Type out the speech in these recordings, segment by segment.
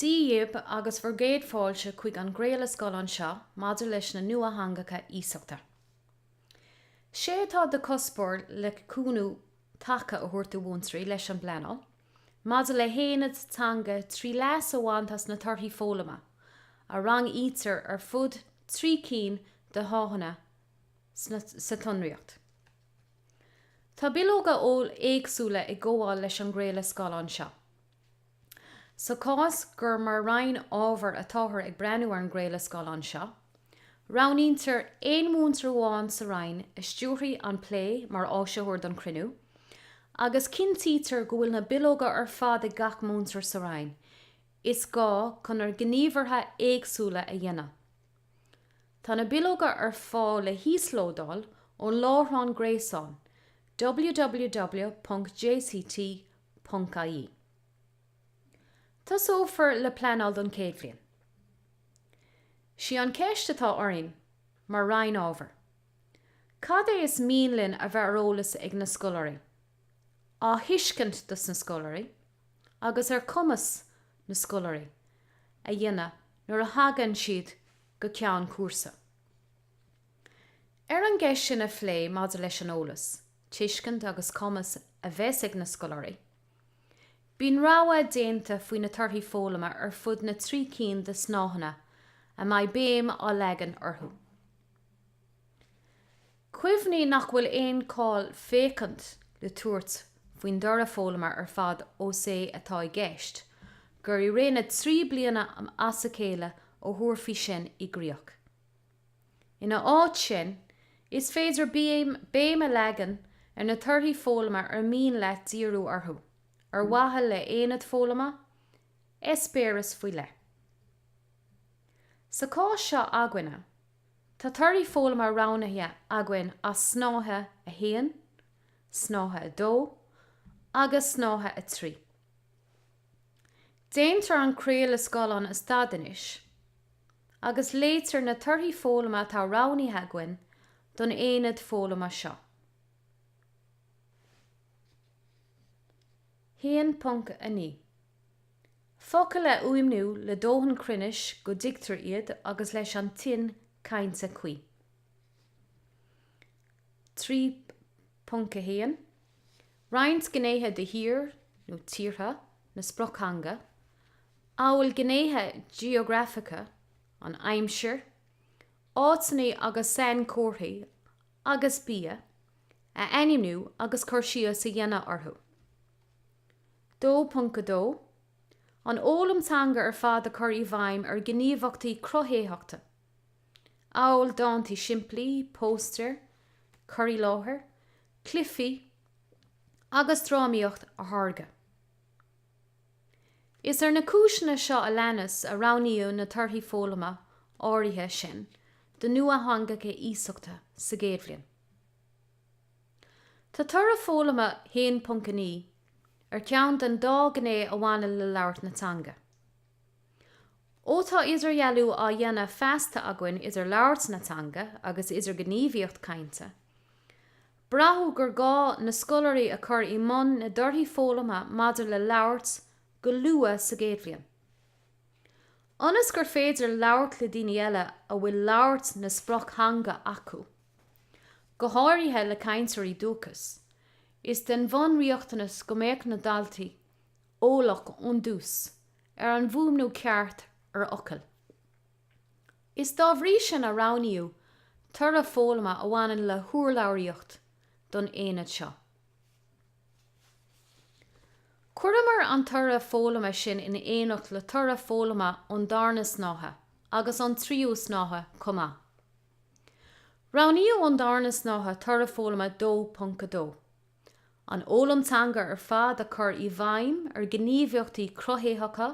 Dia daoibh agus bhur gcéad fáilte chuig an gcraoladh scáileáin seo maidir leis na nuatheangacha iasachta. Sé atá de chuspóir le cúnamh taca a thabhairt do mhúinteoirí leis an bpleanáil maidir le haonaid teanga trí leas a bhaint as na torthaí foghlama a rangaítear ar fud trí cinn de shnáitheanna sa tsonraíocht. Tá bileoga eoil éagsúla ag gabháil leis an gcraoladh scáileáin seo. Sa chás gur mar roinn ábhair atáthar ag breathnú ar an gcraoladh scáileáin seo, roghnaítear aon mhúinteoir amháin sa roinn a stiúrfaidh an plé mar áisitheoir don chruinniú, agus cinntítear go bhfuil na bileoga ar fad ag gach múinteoir sa roinn is gá chun na gníomhartha éagsúla a dhéanamh. Tá na bileoga ar fáil le híoslódáil ón láithreán gréasáin www.jct .ie. Tosófar le pleanáil don chéad bhliain. Sí an cheist atá orainn mar Roinn Ábhair, cad é is mian linn a bheith ar eolas ag na scoláirí, á thuiscint dos na scoláirí agus ar chumas na scoláirí a dhéanamh nuair a thagann siad go ceann cúrsa. Ar an gceist sin a phlé maidir leis an eolas, tuiscint agus cumas a bheas ag na scoláirí. Bíonn rogha déanta faoi na torthaí foghlama ar fud na trí cinn de shnáitheanna a mbeidh béim á leagan orthu. Cuimhnigh nach bhfuil aon chall féachaint le tabhairt faoin dtoradh foghlama ar fad ós é atá i gceist gur i rith na dtrí bliana as a chéile a thabharfaí sin i gcríoch. Ina áit sin, is féidir béim a leagan ar na torthaí foghlama ar mian leat díriú orthu, ar mhaithe le haonad foghlama, eispéireas faoi leith. Sa chás seo againne, tá torthaí foghlama roghnaithe againn as Snáithe 1, Snáithe 2 agus Snáithe 3. Déantar an craoladh scáileáin a stad anois. agus léitear na torthaí foghlama atá roghnaithe againn don aonad foghlama seo. 1.9. Focail a fhuaimniú le dóthain cruinnis go dtuigtear iad agus leis an tuin chainte cuí. 3.1. roinnt gnéithe de thír nó tíortha na sprioctheanga, amhail gnéithe geografacha, an aimsir, áiteanna agus sainchomharthaí agus bia, a ainmniú agus cur síos a dhéanamh orthu. 2.2 An fhoghlaim teanga ar fad a chur i bhfeidhm ar ghníomhaíochtaí cruthaitheacha. amhail dántaí simplí, póstaeir, cur i láthair, cluichí agus drámaíocht a tháirgeadh. Is ar na cúiseanna seo a leanas a roghnaíodh na torthaí foghlama áirithe sin do nuatheangacha iasachta sa gcéad bhliain. Tá toradh foghlama 1.9 ar cheann den dá ghné a bhaineann le labhairt na teanga. Ó tá idirdhealú á dhéanamh feasta againn idir labhairt na teanga agus idirghníomhaíocht cainte, braitheadh gur gá na scoláirí a chur i mbun na dtorthaí foghlama maidir le labhairt go luath sa gcéad bhliain. Ionas gur féidir labhairt le daoine eile a bhfuil labhairt na sprioctheanga acu, go háirithe le cainteoirí dúchais, is den bhunriachtanas go mbeadh na daltaí eolach ón tús ar an bhfuaimniú ceart ar fhocail. Is dá bhrí sin a roghnaíodh toradh foghlama a bhaineann le hurlabhraíocht don aonad seo. Chuireamar an toradh foghlama sin in éineacht le toradh foghlama ón darna snáithe agus ón tríú snáithe chomh maith. Roghnaíodh ón darna snáithe toradh foghlama 2.2. an fhoghlaim teanga ar fad a chur i bhfeidhm ar ghníomhaíochtaí cruthaitheacha,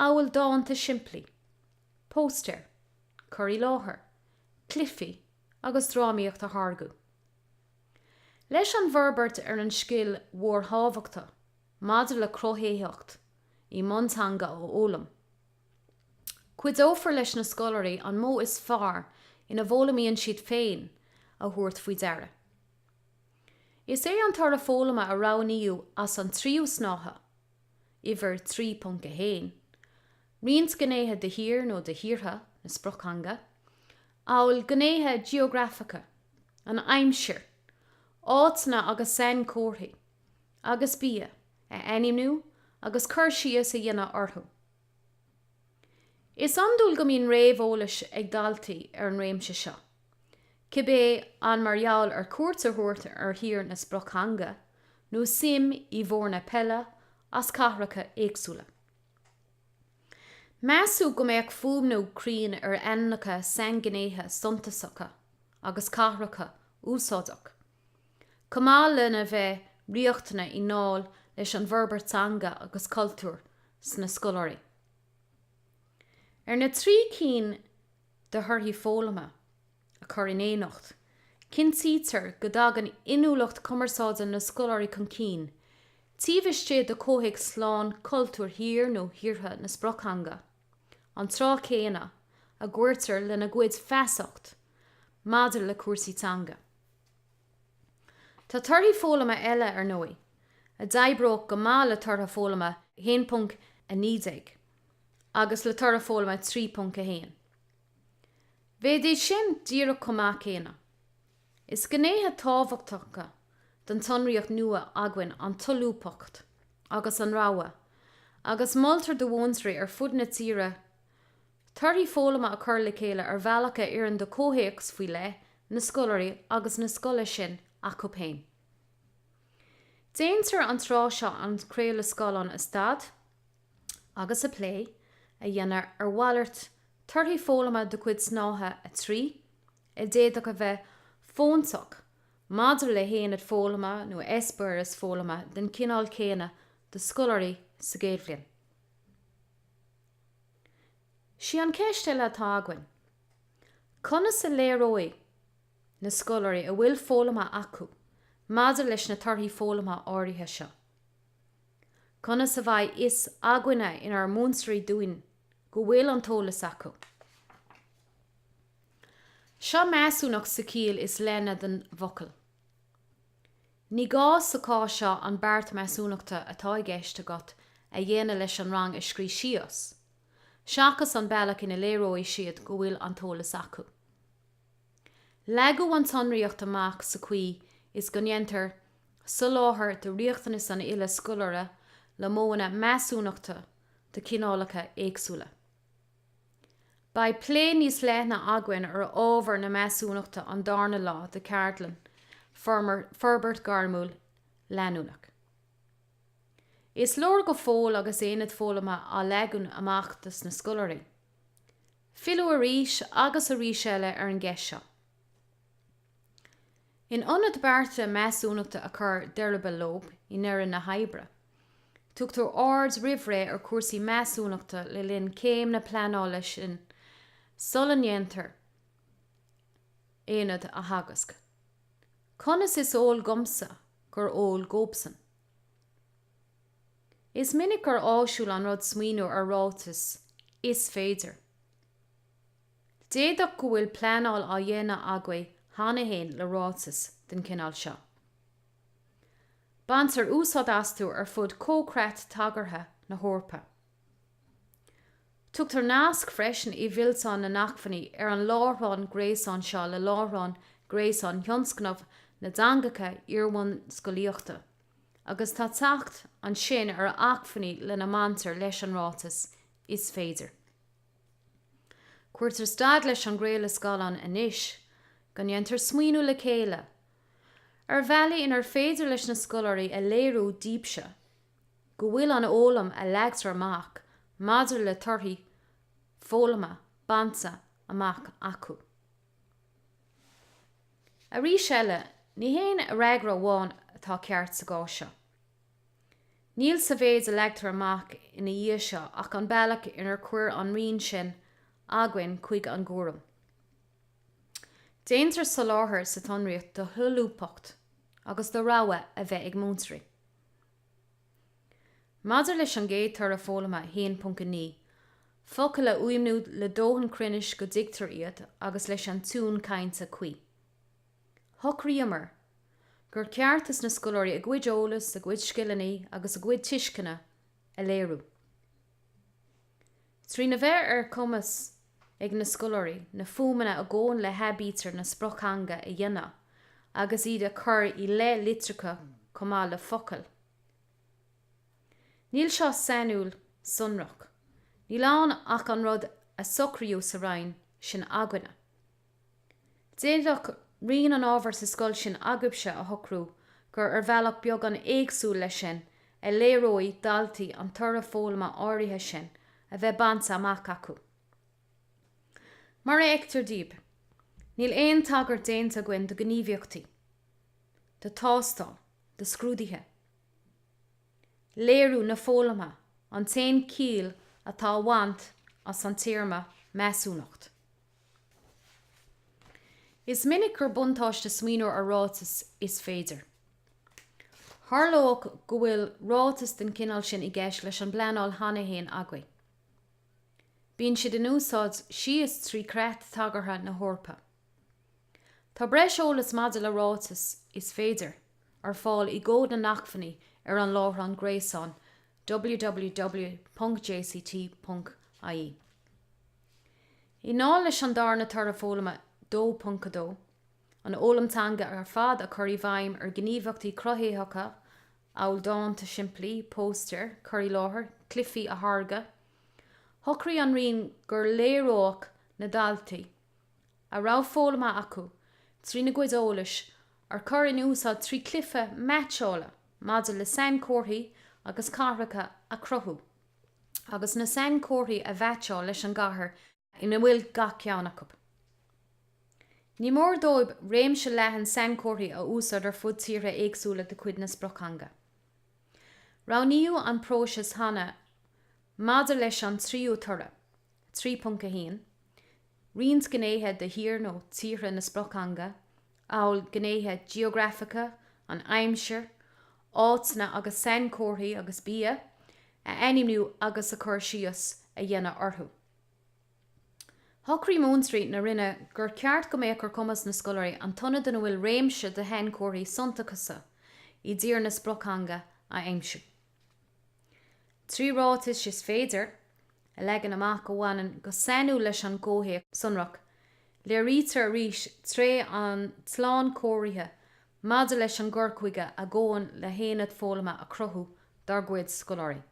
amhail dánta simplí, póstaeir, cur i láthair, cluichí agus drámaíocht a tháirgeadh. Leis an bhforbairt ar an scil mhórthábhachtach maidir le cruthaitheacht i mbun teanga a fhoghlaim, cuideofar leis na scoláirí an modh is fearr ina bhfoghlaimíonn siad féin a thabhairt faoi deara. Is é an toradh foghlama a roghnaíodh as an tríú snáithe, uimhir 3.1, roinnt gnéithe de thír nó de thíortha na sprioctheanga, amhail gnéithe geografacha, an aimsir, áiteanna agus sainchomharthaí, agus bia, a ainmniú agus cur síos a dhéanamh orthu. Is iondúil go mbíonn réamheolas ag daltaí ar an réimse seo, cibé an mar gheall ar chuairt a thabhairt ar thír na sprioctheanga nó suim i bhfoirne peile as cathracha éagsúla. Measadh go mbeadh fuaimniú cruinn ar ainmneacha sainghnéithe suntasacha agus cathracha úsáideach, chomh maith lena bheith riachtanach i ndáil leis an bhforbairt teanga agus cultúir sna scoláirí. Ar na trí cinn de thorthaí foghlama a chur in éineacht, cinntítear go dtagann inniúlacht cumarsáide na scoláirí chun cinn taobh istigh de chomhthéacs lán cultúir thír nó thíortha na sprioctheanga. an tráth céanna a gcuirtear lena gcuid feasacht maidir le cúrsaí teanga. Tá torthaí foghlama eile, ar ndóigh, a d'oibreodh go maith le toradh foghlama 1.19 agus le toradh foghlama 3.1. Bheadh sin díreach chomh maith céanna. Is gnéithe tábhachtacha den tsonraíocht nua againn an tsolúbthacht agus an rogha agus moltar do mhúinteoirí ar fud na tíre torthaí foghlama a chur le chéile ar bhealach a oireann do chomhthéacs faoi leith na scoláirí agus na scoile sin acu féin. Déantar an tráth seo an craoladh scáileáin a stad. agus plé a dhéanamh ar mhalairt torthaí foghlama de chuid Snáithe 3 a d'fhéadfadh a bheith fóntach maidir le haonad foghlama nó eispéireas foghlama den chineál céanna do scoláirí sa gcéad bhliain. Sí an cheist eile atá againn, conas a léireoidh na scoláirí a bhfuil foghlamtha acu maidir leis na torthaí foghlama áirithe seo? Conas a bheidh fhios againne inár múinteoirí dúinn go bhfuil an t-eolas acu? Seo measúnacht sa chiall is leithne den bhfocal. Ní gá sa chás seo an beart measúnachta atá i gceist agat a dhéanamh leis an rang a scríobh síos, seachas an bealach ina léireoidh siad go bhfuil an t-eolas acu. Leagadh an tsonraíocht amach sa chaoi is go ndéantar soláthar do riachtanais an uile scoláire le modhanna measúnachta de chineálacha éagsúla. Beidh plé níos leithne againn ar ábhar na measúnachta an darna lá de cheardlann Forbairt Ghairmiúil Leanúnach. Is leor go fóill agus aonad foghlama á leagan amach dos na scoláirí. Filleadh arís agus arís eile ar an gceist seo. In ionad bearta measúnachta a chur de ruball leob i ndeireadh na hoibre, tugtar aird roimh ré ar chúrsaí measúnachta le linn chéim na pleanála sin sula ndéantar aonad a theagasc. Conas is eol dhomsa gurb eol dhóibhsan? Is minic gur áisiúil an rud smaoineamh ar ráiteas 'Is féidir'. D'fhéadfadh go bhfuil pleanáil á dhéanamh agaibh cheana féin le ráiteas den chineál seo. Baintear úsáid astu ar fud Chomhchreat Tagartha na hEorpa. Tugtar nasc freisin i bhfillteán na nAcmhainní ar an láithreán gréasáin seo le láithreán gréasáin Thionscnamh na dTeangacha Iarbhunscolaíochta. agus tá teacht ansin ar acmhainní lena mbaintear leis an ráiteas 'is féidir'. Cuirtear stad leis an gcraoladh scaileáin anois, go ndéantar smaoineamh le chéile, ar bhealaí inar féidir leis na scoláirí a léiriú díbse go bhfuil an fhoghlaim a leagtar amach maidir le torthaí foghlama bainte amach acu. Arís eile, ní haon fhreagra amháin atá ceart sa gcás seo. Níl sa mhéid a leagtar amach ina dhiaidh seo ach an bealach inar chuir an roinn sin againn chuig an gcúram. Déantar soláthar sa tsonraíocht do sholúbthacht agus do rogha a bheith ag múinteoirí. Maidir leis an gcéad toradh foghlama 1.9, focail a fhuaimniú le dóthain cruinnis go dtuigtear iad agus leis an tiún cainte cuí, shocraíomar gur ceart do na scoláirí a gcuid eolas, a gcuid scileannaí agus a gcuid tuisceana a léiriú. Trína bheith ar chumas ag na scoláirí na fuaimeanna a ghabhann le haibítir na sprioctheanga a dhéanamh agus iad a chur i leith litreacha chomh maith le focail, níl seo sainiúil sonrach, níl ann ach an rud a socraíodh sa roinn sin againne. D'fhéadfadh roinn an ábhair sa scoil sin agaibhse a shocrú gur ar bhealach beagán éagsúil leis sin a léireoidh daltaí an toradh foghlama áirithe sin a bheith bainte amach acu. Mar a fheictear daoibh, níl aon tagairt déanta againn do ghníomhaíochtaí, do thástáil, do scrúduithe. Léiriú na foghlama an t-aon chiall atá a bhaint as an téarma 'measúnacht'. Is minic gur buntáiste smaoineamh ar ráiteas is féidir. Tharlódh go bhfuil ráiteas den chineál sin i gceist leis an bpleanáil cheana fhéin agaibh. Bíonn siad in úsáid síos trí chreat tagartha na hEorpa. Tá breis eolas maidir le ráiteas is féidir ar fáil i gCód na nAcmhainní ar an láithreán gréasáin www.jct.ie. I ndáil leis an darna Toradh Foghlama 2.2, an fhoghlaim teanga ar fad a chur i bhfeidhm ar ghníomhaíochtaí cruthaitheacha amhail dánta simplí, póstaeir, cur i láthair, cluifí a tháirgeadh, shocraigh an Roinn gur léireodh na daltaí a raibh foghlamtha acu trína gcuid eolais a chur in úsáid trí chluiche meaitseála maidir le sainchomharthaí agus cathracha a chruthú. agus na sainchomharthaí a mheaitseáil leis an gcathair ina bhfuil gach ceann acu. Ní mór dóibh réimse leathan sainchomharthaí a úsáid ar fud tíortha éagsúla de chuid na sprioctheanga. Roghnaíodh an próiseas céanna maidir leis an tríú toradh, 3.1, roinnt gnéithe de thír nó tíortha na sprioctheanga, amhail gnéithe geografacha, an aimsir, áiteanna agus sainchomharthaí agus bia a ainmniú agus cur síos a dhéanamh orthu. Shocraigh múinteoirí na Roinne gur cheart go mbeadh ar chumas na scoláirí an t-ionad ina bhfuil réimse de shainchomharthaí suntasacha i dtír na sprioctheanga a aimsiú. Trí ráitis is féidir a leagan amach a bhaineann go sainiúil leis an gcomhthéacs sonrach, léirítear arís tréith an tslánchóirithe Maidir leis an gcur chuige a ghabhann le haonad foghlama a chruthú dár gcuid scoláirí,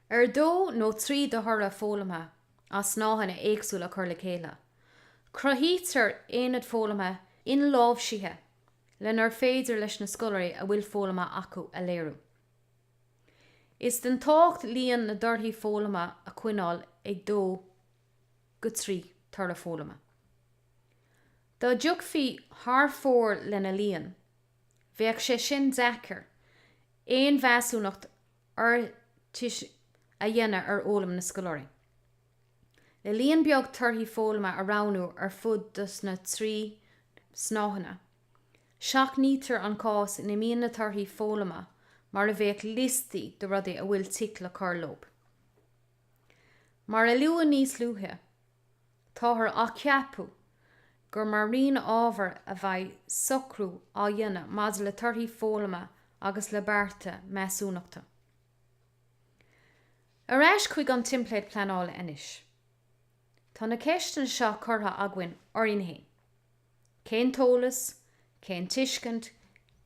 ar dó nó trí de thoradh foghlama as snáitheanna éagsúla a chur le chéile, cruthaítear aonad foghlama inláimhsithe lenar féidir leis na scoláirí a bhfuil foghlamtha acu a léiriú. Is den tábhacht líon na dtorthaí foghlama a choinneáil ag dó go trí toradh foghlama. Dá dtéifí thar fóir lena líon, bheadh sé an-deacair, aon mheasúnacht fhiúntach a dhéanamh ar fhoghlaim na scoláirí. Le líon beag torthaí foghlama a roghnú ar fud dos na trí snáitheanna, seachnaítear an cás ina mbíonn na torthaí foghlama mar a bheadh liostaí de rudaí a bhfuil tic le cur leo. Mar a luadh níos luaithe, táthar á cheapadh gur mar roinn ábhair a bheidh socrú á dhéanamh maidir le torthaí foghlama agus le bearta measúnachta. Ar ais chuig an teimpléad pleanála anois. Tá na ceisteanna seo curtha againn orainn féin, Cén t-eolas, cén tuiscint,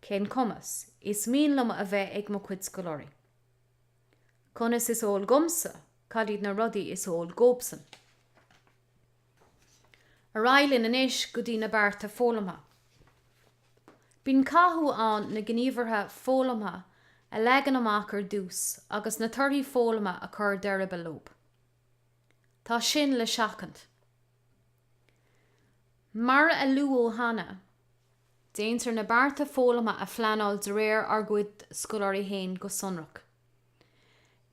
cén cumas is mian liom a bheith ag mo chuid scoláirí? Conas is eol dhomsa cad iad na rudaí is eol dhóibhsan. Ar aghaidh linn anois go dtí na bearta foghlama. Bíonn cathú ann na gníomhartha foghlama a leagan amach ar dtús agus na torthaí foghlama a chur d'eireaball leo. Tá sin le seachaint. Mar a luadh cheana, déantar na bearta foghlama a phleanáil de réir ár gcuid scoláirí féin go sonrach.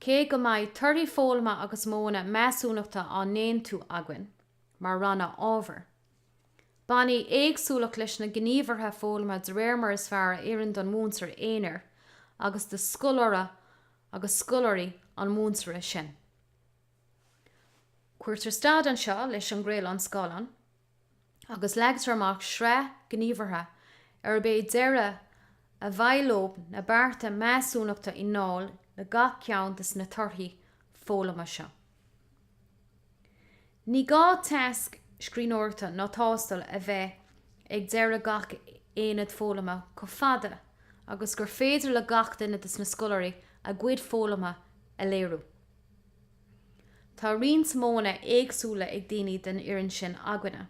Cé go mbeidh torthaí foghlama agus modhanna measúnachta á n-aontú againn mar rannóg ábhair, bainfidh éagsúlacht leis na gníomhartha foghlama de réir mar is fearr a oireann don mhúinteoir aonair agus do scoláire nó scoláirí an mhúinteora sin. Cuirtear stad anseo leis an gcraoladh scáileáin agus leagtar amach sraith gníomhartha arb é deireadh a bhuaile dóibh na bearta measúnachta i ndáil le gach ceann de na torthaí foghlama seo. Ní gá tasc scríbhneoireachta ná tástáil a bheith ag deireadh gach aonaid foghlama chomh fada agus gur féidir le gach duine de na scoláirí a gcuid foghlama a léiriú. Tá roinnt modhanna éagsúla ag daoine den fhoireann sin againne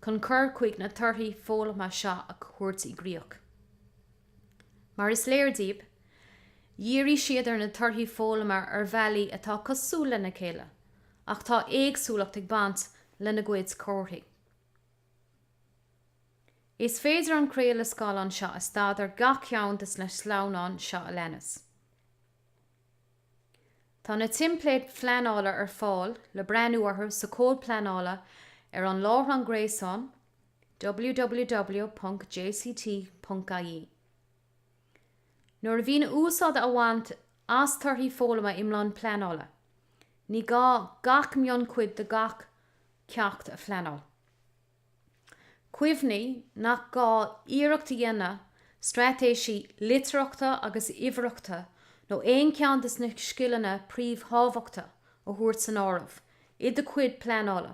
chun cur chuige na torthaí foghlama seo a thabhairt i gcríoch. Mar is léir daoibh, dhírigh siad ar na torthaí foghlama ar bhealaí atá cosúil lena chéile, ach tá éagsúlacht ag baint lena gcuid gníomhartha. Is féidir an craoladh scáileáin seo a stadadh ar gach ceann de na sleamhnáin seo a leanas. Tá na teimpléid phleanála ar fáil le breathnú orthu sa Chomhad Pleanála ar an láithreán gréasáin www.jct.ie. Nuair a bhíonn úsáid á baint as torthaí foghlama i mbun pleanála, ní gá gach mionchuid de gach ceacht a phleanáil. Cuimhnigh nach gá iarracht a dhéanamh straitéisí litearthachta agus uimhearthachta nó aon cheann de na scileanna príomhthábhachta a thabhairt san áireamh i do chuid pleanála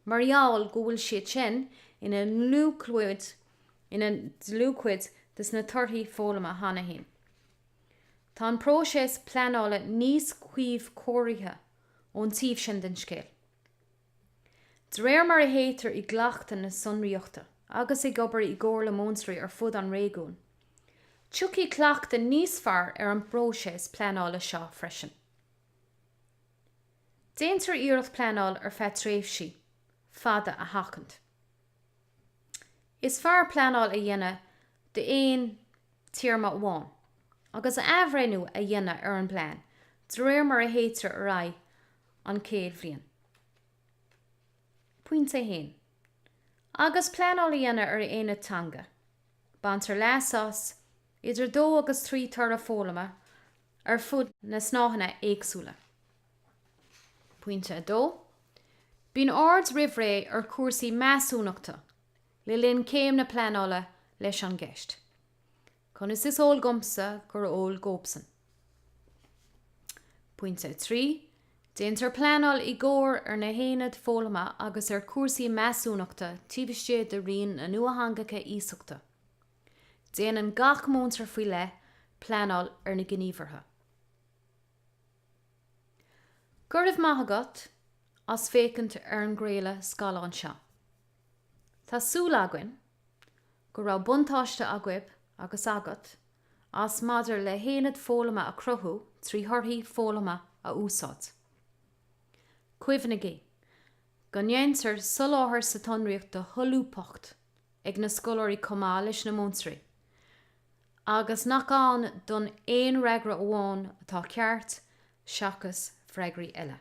mar gheall go bhfuil siad sin ina ndlúthchuid de na torthaí foghlama cheana féin. Tá an próiseas pleanála níos cuíchóirithe ón taobh sin den scéal. De réir mar a théitear i gcleachtadh na sonraíochta agus ag obair i gcomhairle múinteoirí ar fud an réigiúin, tiocfaidh cleachtadh níos fearr ar an bpróiseas pleanála seo freisin. Déantar iarracht pleanáil ar feadh tréimhsí fada a sheachaint. Is fearr pleanáil a dhéanamh d'aon téarma amháin, agus athbhreithniú a dhéanamh ar an bplean de réir mar a théitear ar aghaidh, an chéad bhliain. Pointe 1, Agus pleanáil á déanamh ar aonad teanga, baintear leas as idir dó agus trí toradh foghlama ar fud na snáitheanna éagsúla. Pointe 2, Bíonn aird roimh ré ar chúrsaí measúnachta le linn céim na pleanála leis an gceist. Conas is eol domsa gur eol dóibhsean? Pointe 3, Déantar pleanáil i gcomhar ar na haonaid foghlama agus ar chúrsaí measúnachta taobh istigh de roinn na nuatheangacha iasachta. Déanann gach múinteoir faoi leith pleanáil ar na gníomhartha. Go raibh maith agat as féachaint ar an gcraoladh scaileáin seo. Tá súil againn go raibh buntáiste agaibh, agus agat, as maidir le haonaid foghlama a chruthú trí thorthaí foghlama a úsáid. Cuimhnigí go ndéantar soláthar sa tsonraíocht do sholúbthacht ag na scoláirí chomh maith leis na múinteoirí agus nach ann don aon fhreagra amháin atá ceart seachas freagraí eile.